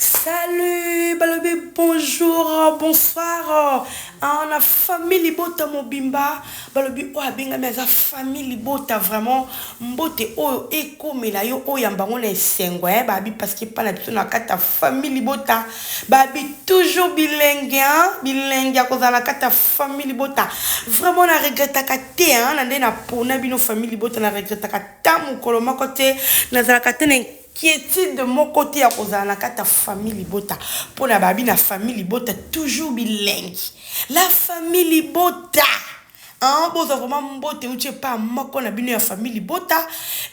Salut balobi bonjour bonsoir ah, na famille libota mobimba balobi oyo abengami aza famille libota vraiment mbote oyo ekomela yo oyo yamba ngo na esengo eh, babi parce que epa na biso na kati ya famille libota babi toujours bilingue hein? bilingue ya kozala na kati ya famille libota vraiment na regretaka te hein? na nde napona bino famille libota na regretaka ta mokolo moko te nazalaka te na Quietide moko te ya kozala na kati ya famille libota pona babi na famille libota toujours bilengi la famille libota hein bozwa vraiment mbote euti epa moko na bino ya famille libota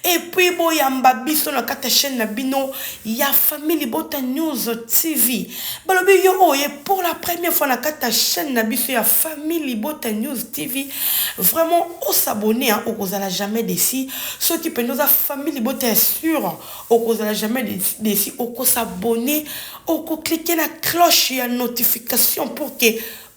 et puis boyamba biso na kati ya chaine na bino ya famille libota news TV balobi yo oye pour la première fois na kati ya chaine na biso ya famille libota news TV vraiment osabone hein okozala jamais desi Soki penza oza famille libota ya sur okozala jamais desi oko s'abonne oko clique na cloche ya notification pour que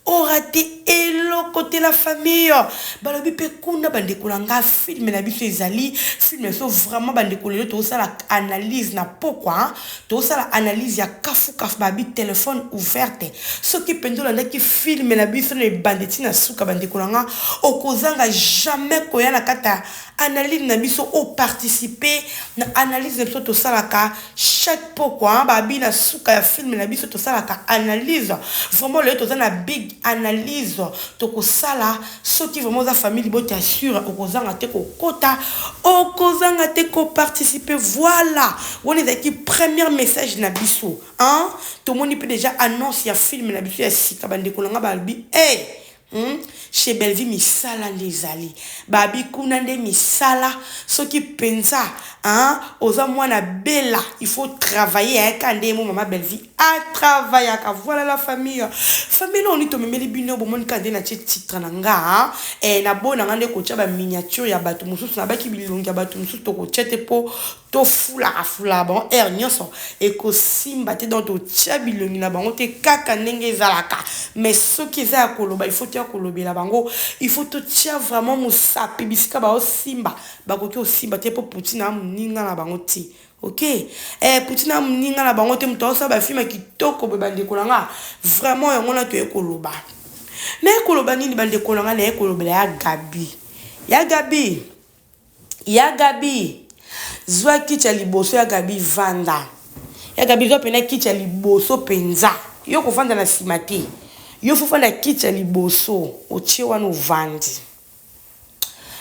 orate eloko te la famille balobi pe kuna bandeko na nga film na biso ezali film na biso vraiment bandeko lelo tozosala analyse na pokwa Tosala analyse ya kafu kafu ba bi telephone ouverte soki penza olandaki film na biso na ebandi ti na suka ba ndeko na nga okozanga jamais koya na kati ya analyse na biso o participe na analyse na biso tosalaka chaque pokwa ba bi na suka ya film na biso tosalaka analyse vraiment lelo toza na big analyse tokosala Soki vraiment oza famille libota ya sure okozanga te ko kota okozanga te ko participe voila wana ezalaki première message na biso hein tomoni pe dejà annonce ya film na biso ya sika ba ndeko na nga ba lobi hey Hmm? chez Bellevue misala nde ezali babi kuna nde misala soki penza hein oza mwana bela il faut travailler hein ka nde mo maman Bellevue A travaillaka voilà la famille famille oyo nini tomemeli bino bomoni kaka nde natie titre na nga eh, na boyi na nga nde kotia ba miniature ya bato mosusu na baki bilongi ya bato mosusu tokotia te mpo tofulaka fulaka bango heure nyonso ekosimba te donc totia bilongi na bango te kaka ndenge ezalaka mais soki eza ya koloba il faut toya kolobela bango il faut totia vraiment mosapi bisika baosimba bakoki kosimba te mpo poutine amoninga na bango te Ok eh kuti na muninga na bango te mutu aosala ba film ya kitoko boye bandeko na nga vraiment yango na toye koloba naye koloba nini bandeko na nga naye kolobela ya Gabi ya Gabi ya Gabi zwa kiti ya liboso ya Gabi vanda ya Gabi zwa pena kiti ya liboso penza yo kovanda na sima te yo fo fanda kiti ya liboso otie wana ovandi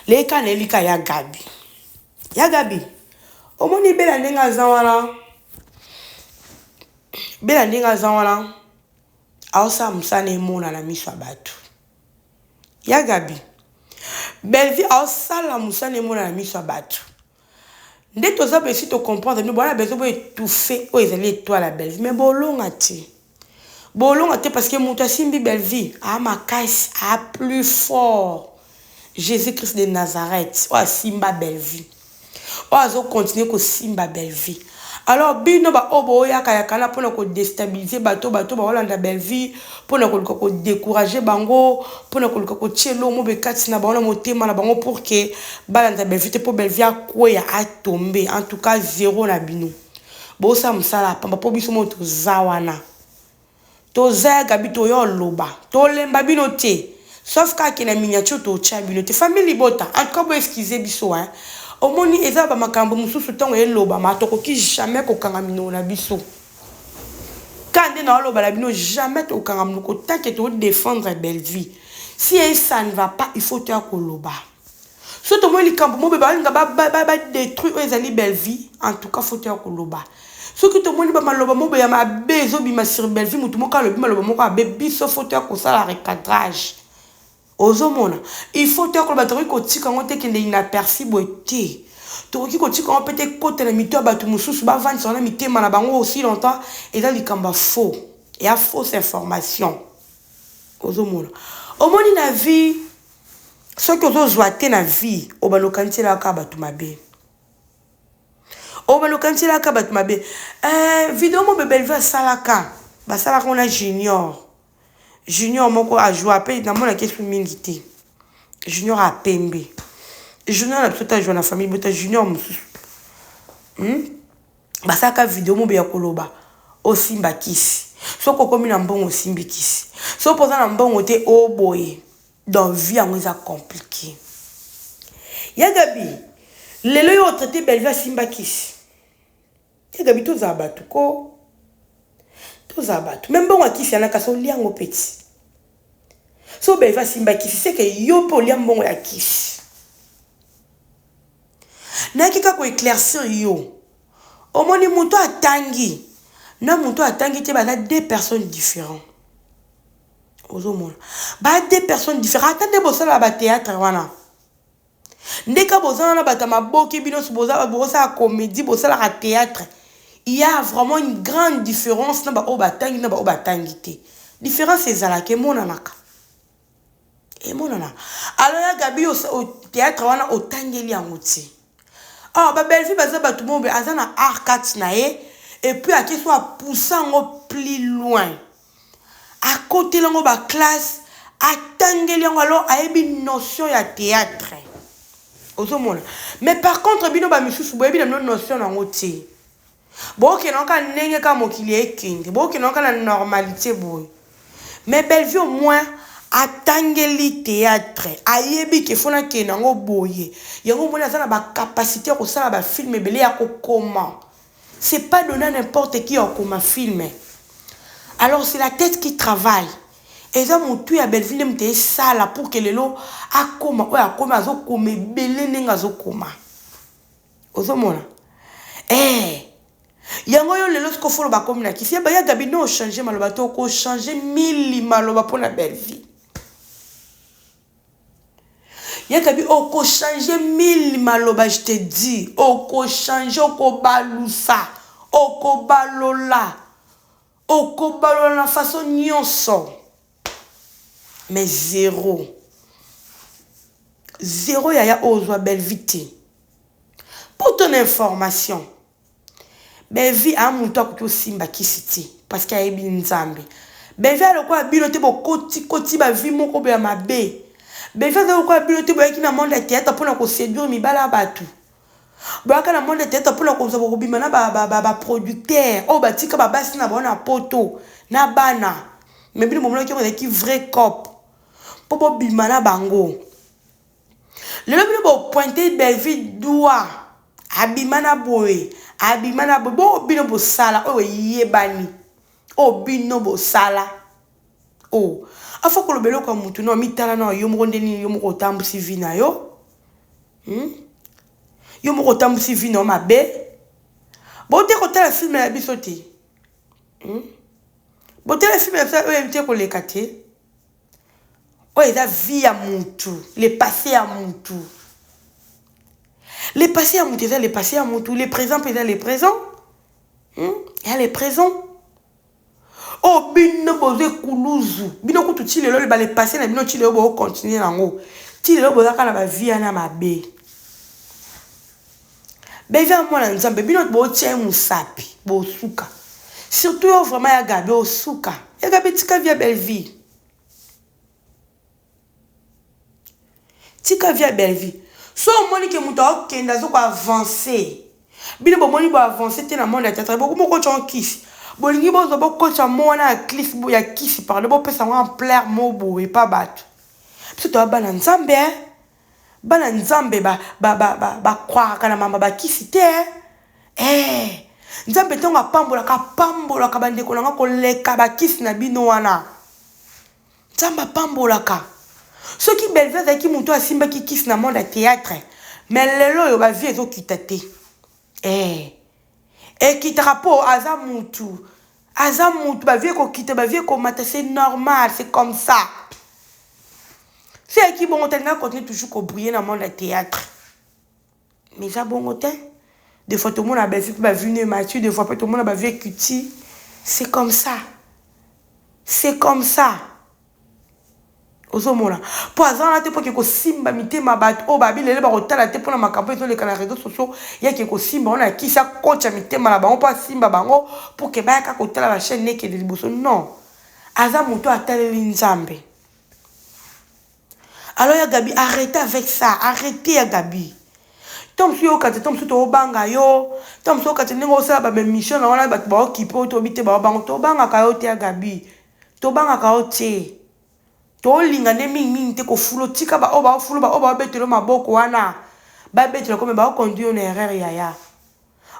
leka na elika ya Gabi Ya Gabi, omoni Bella ndenge aza wana? Bella ndenge aza wana aosala mosala na emona na miso ya bato. Ya Gabi, Bellevue aosala mosala na emona na miso ya bato. Nde toza besi to comprendre bino bwana bezo bo étouffer oyo ezali etoile ya Bellevue mais bolonga te. Bolonga te parce que mutu asimbi Bellevue aa makasi aa plus fort Jesus Christ de Nazareth oyo asimba Bellevue oyo azo continuer kosimba Bellevue alors bino ba oyo boyaka yaka wana pona ko destabiliser batu oyo batu baolanda Bellevue pona koluka ko decourager bango pona koluka kotia eloko moko boye kati na bango na motema na bango pour que balanda Bellevue te po Bellevue akweya a tomber en tout cas zero na bino. Bosala musala ya pamba po biso moko toza wana toza ya gaby toya oloba tolemba bino te sauf kaka ke na miniature totia bino te famille libota en tout cas bo excuse biso hein omoni eza ba makambu mususu tango elobama tokoki jamais kokanga minoko na biso ka nde na oloba na bino jamais tokanga munoko tant que to defendre Bellevue si un ça ne va pas il faut toya koloba Soki tomoni likambo moko balinga ba ba ba ba detruit oyo ezali Bellevue en tout cas faut toya koloba soki tomoni ba maloba moko ya mabe ezobima sur Bellevue mutu moko alobi maloba moko abe biso faut toya kosala recadrage ozomona il faut toya koloba tokoki kotika yango te kende inaperci boye te tokoki kotika yango mpe te ekota na mito ya bato mosusu bavandisa wana mitema na bango aussi longtemps eza likambo ya faux ya fausse information ozomona omoni na vie soki ozo zwa te na vie obanda okanisi elaka kaka bato mabe obanda okanisi elaka kaka bato mabe eh, video mo bebelve asalaka basalaka ona junior junior moko ajua mpe namonaki esu mingi te junior apembe junior na biso ta jua na famille bota junior mosusu hmm? basalaka video mobe ya koloba osimba kisi soki okomi na mbongo osimbi kisi soki oza na mbongo te oboye donc vie yango eza compliqué ya gabi lelo yo otraite belvi asimba kisi ya gabi tozala bato ko tozala bato me mbongo ya kisi yana kasi olia yango peti so belvi asimba kisi seke yo mpe olia mbongo ya kisi Nayaki kaka ko eclaircir yo. Omoni mutu oyo atangi na mutu oyo atangi te baza deux personnes differents. Ozo mona? Baza deux personnes differents. Ata nde bosalaka ba theatre wana. Nde ka boza wana bato ya maboke bino nionso boza bosala comedie bosalaka theatre. Il ya vraiment une grande difference na ba oyo batangi na ba oyo batangi te. Difference ezalaka emonanaka. emonana alors ya gabi theatre wana otangeli yango ti awa ba bellevue baza bato mobe aza na arcate na ye epuis ake so apusa yango plus loin akoteli yango baclasse atangeli yango alors ayebi notion ya theatre ozomona mais par contre bino bamisusu boyebi na bino notion na yango te Bokende yango kaka ndenge kaka mokili ekende. Bokende yango kaka na normalite boye. Mais Bellevue au moins atangeli theatre, ayebi que faut nakende na yango boye. Yango omoni aza na ba capacites ya kosala ba films ebele, ya kokoma. C'est pas donne à n'importe qui ya kokoma film. Alors c'est la tete qui travaille. Eza mutu ya Bellevue nde moto esala pour que lelo akoma oyo akomi, azokoma ebele ndenge azokoma. ozomona eh yango yo lelo siko folo bakomi na kisi yeba ya gabi no ochange maloba to okochange mili maloba mpo na bellevie ya gabi okochange mili maloba je te dis okochange okobalusa okobalola okobalola na faso nyonso mais zero zero yaya oyo ozwa bellevue te pour ton information bellevue a moto akoki osimba kisi te parce que ayebi nzambe bellevue alokola bino te bokotikoti bavie moko boya mabe bellevue aza lokola bino te boyaki na monde ya théâtre mpona koseduire mibala ya bato Boyaka na monde theatre pona kozwa bokobima na ba ba producteur oyo batika ba basi na bango na poto na bana mais bino bomonaki yango ezalaki vrai cop po bobima na bango lelo bino bo pointe belvi dua abima na boye abima na boye bo bino bosala oyo eyebani oyo bino bosala oh afa koloba eloko ya mutu no mitala na yo moko nde nini yo moko otambusi vie na yo hmm? yo moko otambusi vie na yo mabe bote kotala filme ya biso te hmm? botala filme ya biso oyo yebi te koleka te oyo eza vie ya mutu le passé ya mutu le passé ya mutu eza le passé ya mutu le présent mpe eza le présent hmm? ya le présent Oyo bino boza ekuluzu. Bino kutu ti lelo ba le passe na bino ti lelo bo continuer na ngo. Ti lelo boza kaka na ba vie wana ya mabe. Bellevue mwana nzambe bino nioso bo tia ye musapi bo suka. Surtout yo vraiment ya Gaby osuka. Ya Gaby tika vie ya Bellevue. Tika vie ya Bellevue. Soki omoni que mutu azo kende azo ko avancer, bino bo moni bo avancer te na monde ya theatre, bo komi ko kotisa ngo kisi. Bo lingi bo zo bo kotisa mot wana ya cliff ya kisi pardon, bo pesa ngo ampleur moko boye epa batu. Biso toza bana Nzambe hein. Bana Nzambe ba ba croiraka na mamba ba kisi te hein. Eeh Nzambe tangu a pambolaka, a pambolaka ba ndeko na nga ko leka ba kisi na bino wana. Nzambe apambolaka. Soki Bellevue azalaki mutu oyo asimbaki kisi na monde ya theatre mais lelo oyo ba vie ezo kita te eh ekitaka po aza mutu aza mutu ba vie ekokita ba vie ekomata c'est normal c'est comme ça soki ayaki bongo te alinga continue toujours ko briller na monde ya theatre Mais eza bongo te de fois tomona ba vie pe ba vie no emature de fois pe tomona ba vie ekuti c'est comme ça c'est comme ça ozomona po aza wana te po ke kosimba mitema bato oyo babi lelo bakotala te mpona makambo ezoleka na réseau sociaux yake kosimba wana akisi akocha mitema na bango mpo asimba bango pour ke bayaka kotala ba chaîne nekede liboso non aza moto ataleli nzambe Alors ya Gaby arrete avec ça arrete ya Gaby temps mosusu yo okate temps mosusu tobanga yo temps mosusu okate ndenge osala ba mission na wana bato baokipe oyo toyebi te bao bango tobangaka yo te ya Gaby tobangaka yo te tolinga nde mingi mingi te kofulo tika baoyo baofulu baoyo baobetelo maboko wana babetelo kome baoconduire yo na erreur yaya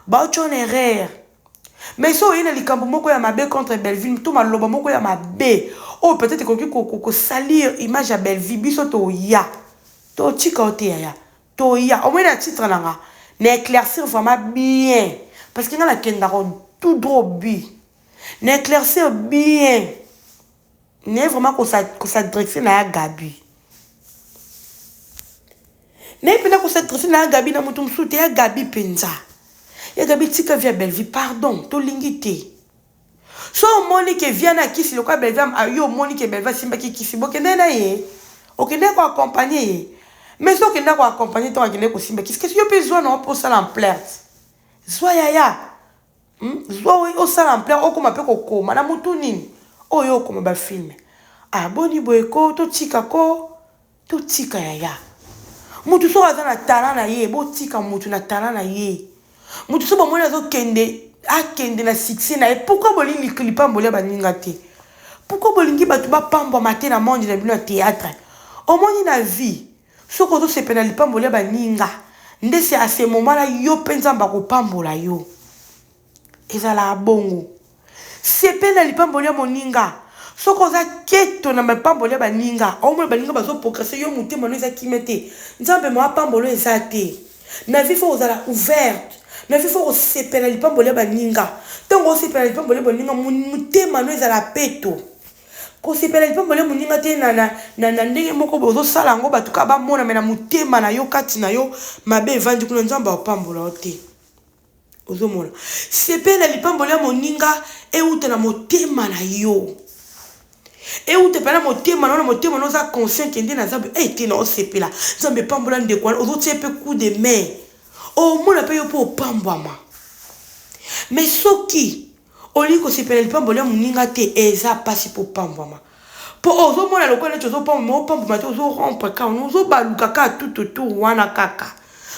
Ba ocho na erreur. Mais soki oye na likambo moko ya mabe contre Bellevue to maloba moko ya mabe oyo peut etre ekoki ko salir image ya Bellevue biso toya to tika yo te yaya toya omoni na titre na nga na eclaircir vraiment bien parce que nga na kendaka tout droit au but na eclaircir bien naye vraiment kosadresse na ya gabi naye mpena kosadresse na ya gabi na moto mosusu te ya gabi mpenza ya gabi tika via bellevie pardon tolingi te so omoni ke via na kisi lokola bellevie ah, yo omoni ke bellevie asimbaki kisi bokende na ye okende ko accompagne ye mais so okende ko accompagne ntango akende kosimba kisi kasi yo mpe zwa na yo mpo osala en plainte zwa yaya Hum zwa oyo osala en plein okoma pe kokoma na mutu nini oyo okoma ba film ah boni boye ko totika ko totika yaya mutu soki aza na talent na ye botika mutu na talent na ye mutu soki bomoni azokende akende na succès na ye pourquoi bolingi lipamboli ya baninga te pourquoi bolingi bato bapambwama te na monde na bino ya théâtre omoni na vie Soki ozo sepela na lipamboli ya ba ninga nde c'est à ce moment là yo pe nzambe ako pambola yo. Ezalaka bongo. Sepela na lipamboli ya moninga. Soki oza keto na mapamboli ya ba ninga, ozo mona ba ninga bazo progresser yo motema no eza kimia te, nzambe mo apambola yo eza te. Na vie faut kozala ouverte. Na vie faut ko sepela na lipamboli ya ba ninga. Tango ozo sepela na lipamboli ya ba ninga motema no ezala peto. Kosepela lipamboli ya moninga te na, na, na, na ndenge moko boye ozosala yango bato kaka bamona, me na motema na yo, kati na yo, mabe evandi kuna. Nzambe aopambola yo te. Ozomona? Sepela lipamboli ya moninga euta na motema na yo. euta mpe na motema na yo na motema na oza conscient kende na nzambe e eh, te na osepela nzambe epambola ndeko wana ozotie mpe coup de main omona mpe yo mpe opambwama mais soki Olingi kosepela lipamboli ya moninga te eza pasi po opambwama po ozo mona lokola neti ozo pambwama mais opambwama te ozo rompre kaka wana ozo baluka kaka tout autour wana kaka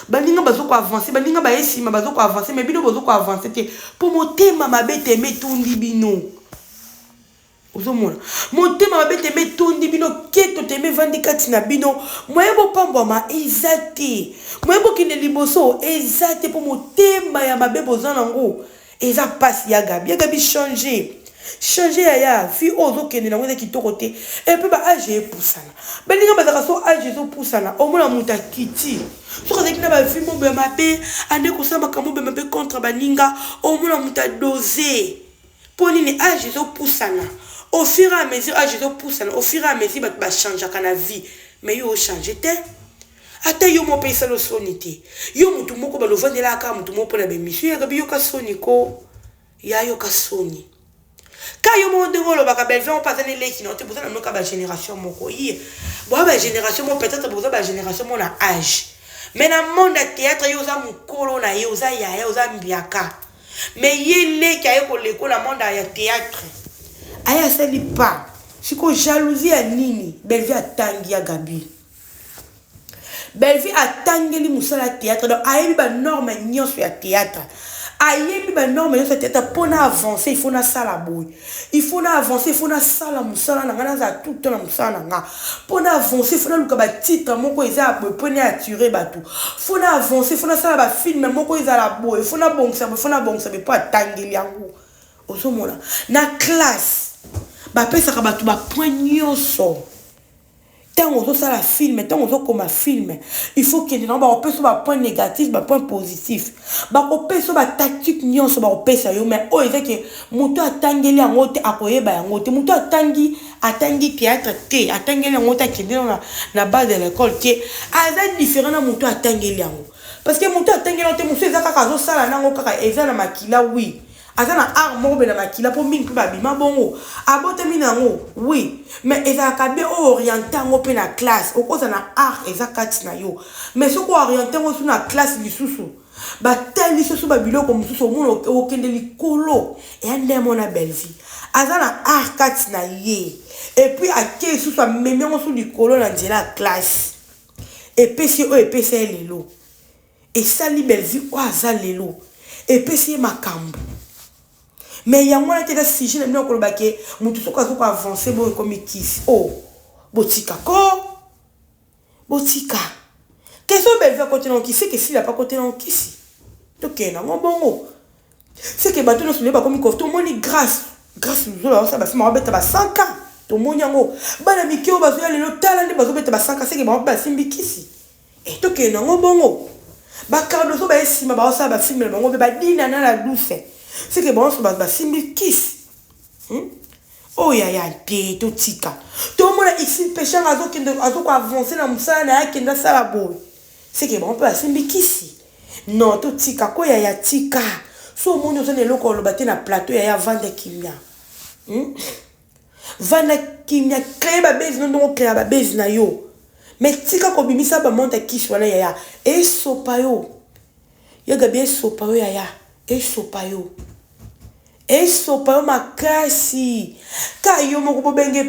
baninga bazo ko avancer baninga baye sima bazo ko avancer mais bino bozo ko avancer te po motema mabe tembe etundi bino. Ozo mona? Motema mabe tembe etondi bino, keto tembe evandi kati na bino. Moyen bo pambwama eza te. Moyen bo kende liboso eza te po motema ya mabe boza nango. Eza pasi ya Gaby. Ya Gaby change. Change yaya, vie oyo ozo kende nango eza kitoko te. Et puis ba age epusana. Baninga bazalaka soki age ezo pusana, omona mutu akiti. Soki azalaki na ba vie mobe ya mabe, ande kosala makambo mobe ya mabe contre baninga, omona mutu a doser. Po nini age ezo pusana au fur et à mesure age ezo pusana au fur et à mesure batu ba changeaka na vie mais yo o changer te ata yo moko pe esali yo soni te yo mutu moko bala ovandelaka kaka mutu moko pona ba emission ya gaby yoka soni ko ya yoka soni ka yo moko ndenge olobaka bellevue yango pe aza ne leki na yo te boza na bino kaka ba generation moko ye boza ba generation moko peut-être boza ba generation moko na age mais na monde ya theatre yo oza mukolo na ye oza yaya oza mbiaka mais ye leki aye kolekola monde ya theatre aye asali pas siko jalousie ya nini belvi atangi ya gabi belvi atangeli mosala ya theatre donc ayebi banorme nyonso ya theatre ayebi banorme nyonso ya theatre mpo na avance il faut nasala boye Il faut na avancer, il faut na sala musala na nga na za tout temps na musala na nga. Pour na avancer, il faut na luka ba titre moko eza ya boye pour na attirer bato. Faut na avancer, faut na sala ba film moko ezala boye, faut na bongisa boye, faut na bongisa boye pour atangeli yango. Ozo mona? Na classe ba pesaka bato ba points nionso. Tango ozo sala film, tango ozo koma film, il faut kende nango bako pesa yo ba points negatifs, ba points positifs. Bako pesa yo ba tactiques nionso bako pesa yo mais oyo eza ke mutu atangeli yango te ako yeba yango te. Mutu atangi, atangi theatre te, atangeli yango te, akende nanu na na base de l'ecole te, aza different na mutu atangeli yango. Parce que mutu atangeli yango te, mususu eza kaka azo sala nango kaka eza na makila oui. aza na art moko bena makila po mingi pe ba bima bongo abotami na yango oui mais ezalaka bien o oriente yango pe na classe okoza na art eza kati na yo mais soki o oriente yango su na classe lisusu ba tali soso ba biloko mosusu omona okende likolo eya nde yango na Bellevue aza na art kati na ye et puis ake susu amemi yango su likolo na nzela ya classe epesi oyo epesa ye lelo Esali Bellevue oyo aza lelo epesi ye makambu mais yango wana te eza sujet na bino ya koloba ke mutu soki azo ko avance boye ekomi kisi oh botika koo botika ke soki Bellevue akoti nango kisi seke Sila pe akoti nango kisi tokende nango bongo seke batu nionso lelo bakomi ko tomoni grace grace luzolo azo sala ba film ako beta ba 100 cas tomoni yango bana mike oyo bazo ya lelo tala nde bazo beta ba 100 cas seke bango pe basimbi kisi. Eh tokende nango bongo. Ba Cardozo baye sima ba osala ba film na bango pe ba dina na la douce. Ce que bango ba ba simbi kiss. Hum? Oh yaya te to tika. To mona ici peshanga azo kende azo ko avancer na musala na ya kenda sala boye. Ce que bango pe ba simbi kisi. Non to tika ko yaya tika. So moni ozo na eloko oloba te na plateau yaya vanda kimia. Hum? Vanda kimia cree ba buzz no ndenge o creaka ba buzz na yo mais tika ko bimisa ba monte ya kisi wana yaya esopa yo ya gaby esopa yo yaya esopa yo esopa yo makasi ka yo moko bo benge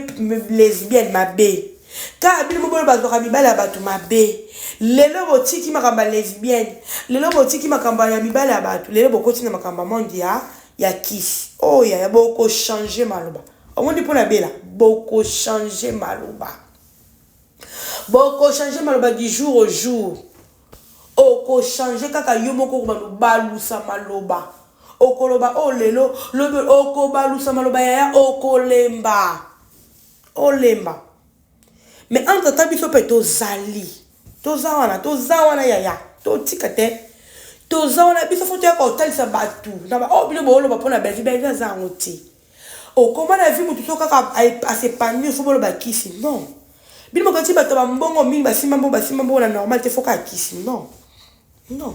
lesbienne mabe ka bino moko ba zwaka mibala ya batu mabe lelo bo tiki makambo ya lesbienne lelo bo tiki makambo ya mibala ya batu lelo bo koti na makambo ya monde ya ya kisi oh yaya boko change maloba omoni pona bela boko change maloba boko change maloba du jour au jour oko change kaka yo moko balusa maloba okoloba o oh, lelo lobi okobalusa maloba yaya okolemba olemba Mais entre temps biso pe tozali. Toza wana, toza wana yaya. Totika te. Toza wana biso faut toya kotalisa batu. Na ba oh bino boloba pona Bellevue, Bellevue aza yango te. Okoma na vie mutu so kaka a s'epanouir faut boloba kisi. Non. Bino bokanisi bato ba mbongo mingi basimba mbongo basimba mbongo na normal te faut kaka kisi. Non. Non.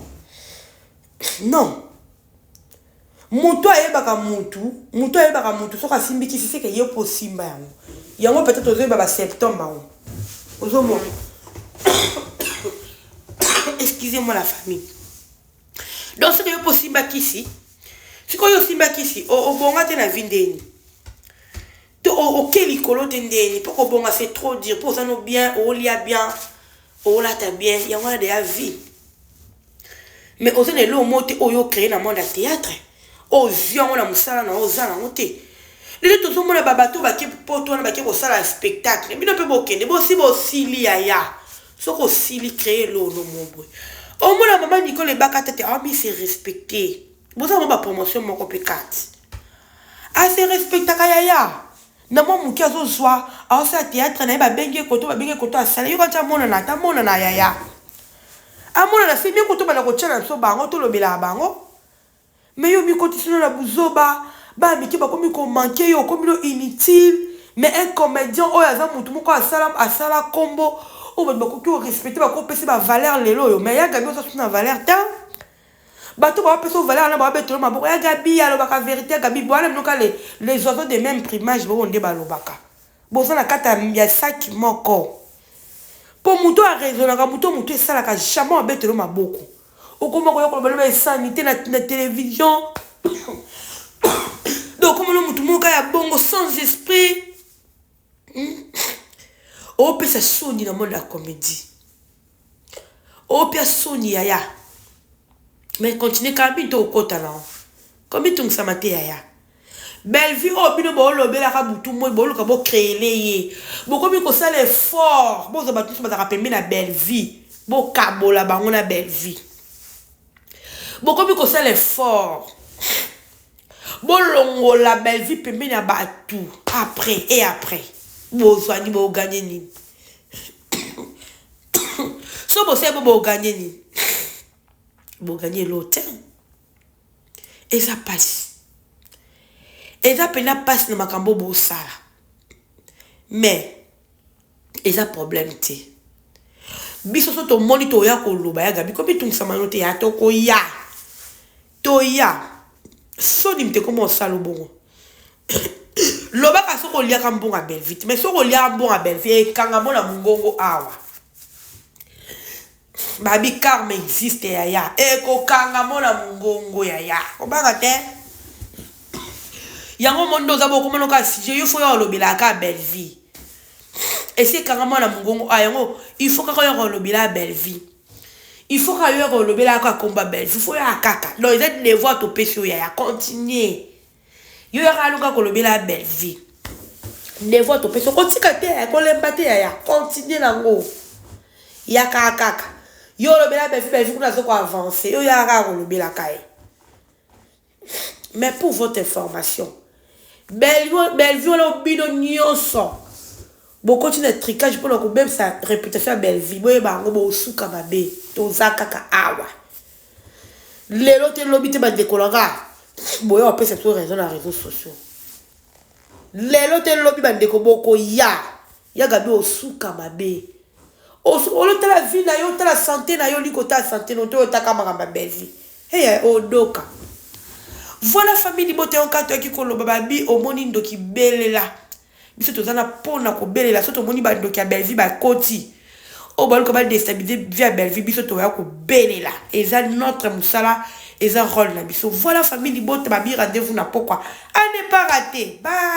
Non. mutu ayebaka mutu mutu ayebaka mutu soki asimbi kisi seke yo mpo osimba yango yango peut-être ozoyeba ba symptome bango ozomona excusez moi la famille donc soki yo mpo osimba kisi sikoyo osimba kisi obonga te na vi ndeni to oke likolo te ndeni mpo kobonga c'est trop dur mpo oza no bien olia bien olata bien yango wana deya vie mais oza na eloko moko te oyo ocree na monde ya théâtre oyo ozwi yango na mosala na yo oza na yango te lelo tozomona babato oyo bake poto wana bake kosala spectacle bino mpe bokende bosi bosili yaya soki osili cree lono moboye omona mama nikole ebaka tete aomi se respecte boza mwa bapromotion moko mpe kati ase respectaka yaya Na mwa moke azo zwa azo sala theatre naye ba bengi ye koto ba bengi ye koto asala yoka ti amonana ata amonana yaya amonana c'est mieux koto banda kotia na biso bango to lobelaka bango mais yo mikotisi no na buzoba bana mike bakomi ko manquer yo okomi no inutile mais un comedien oyo aza mutu moko asala asala kombo oyo batu bakoki ko respecter bako pesa ba valeur lelo oyo mais ya Gaby oza su na valeur tein. Bato ba pesa yo valeur wana ba betolo maboko ya gaby alobaka verite ya gaby boana bino kale les oiseaux de meme primage bobo nde balobaka boza na kati ya sac moko po moto a raisonaka moto moto esalaka jamais abetolo maboko okoma koya koloba loba esanite na, na television donc okomona moto moka ya bongo sans esprit hmm? opesa soni na monde ya comédie Opia soni yaya mais continue kaka bini to kota nao ko mitungisa ma te yaya Bellevue oyo bino bo lobela ka butu moi bo luka bo creele ye bo komi ko sala effort bo zwa batu nionso bazaka pembeni ya Bellevue bo kabola bango na Bellevue bo komi ko sala effort bo longola Bellevue pembeni ya batu après et après bo zwani bo gagne nini so bosali bo boganye nini boganye eloo te eza mpasi eza mpenza mpasi na makambo bosala mais eza problème te biso so tomoni toya koloba ya gabi komitungisama yo te ya tokoya Toya. Soni mte koma osalo bongo lobaka soki oliaka mbonga belvite mais soki oliaka mbonga belvie ekanga mo na mongongo awa babi karma existe yaya ekokanga mo na mongongo yaya obanga te yango mondo oza bokomona kaka sujet yo fo ya olobelaka kaka belvie esi ekanga mo na mongongo a yango il faut kaka oyaka olobela belvie Il faut kaka yo yaka olobela kaka komba Bellevue, il faut yaka kaka. Non, eza devoir topesi yo yaya, continuer. Yo yaka alo kaka olobela Bellevue. Devoir topesi yo, kotika te yaya, kolemba te yaya, continuer nango. Yaka kaka. Yo olobela Bellevue, Bellevue kuna azo ko avancer, yo yaka kaka kolobela kaye. Mais pour votre information, Bellevue, Bellevue wana bino nyonso bokoti na tricage mpo na kobebisa reputation ya Bellevue, boyeba yango bosuka mabe, toza kaka awa lelo te lobi te bandeko na nga boya opesa biso raison na réseaux sociaux lelo te lobi bandeko bokoya Ya gaby osuka mabe olo tala vie nayo otala sante nayo olingi kotala sante nayo te oyo otaka makambo ya bellevue hee odoka voilà famille libota yo nka toyaki koloba babi omoni ndoki belela biso toza na pona kobelela so tomoni ba ndoki ya bellevue bakoti oyo baluka ba destabilise vie ya bellevue biso toya kobelela eza notre musala eza role na biso voilà famille libota babi rendez-vous na pokwa a ne pas rater bye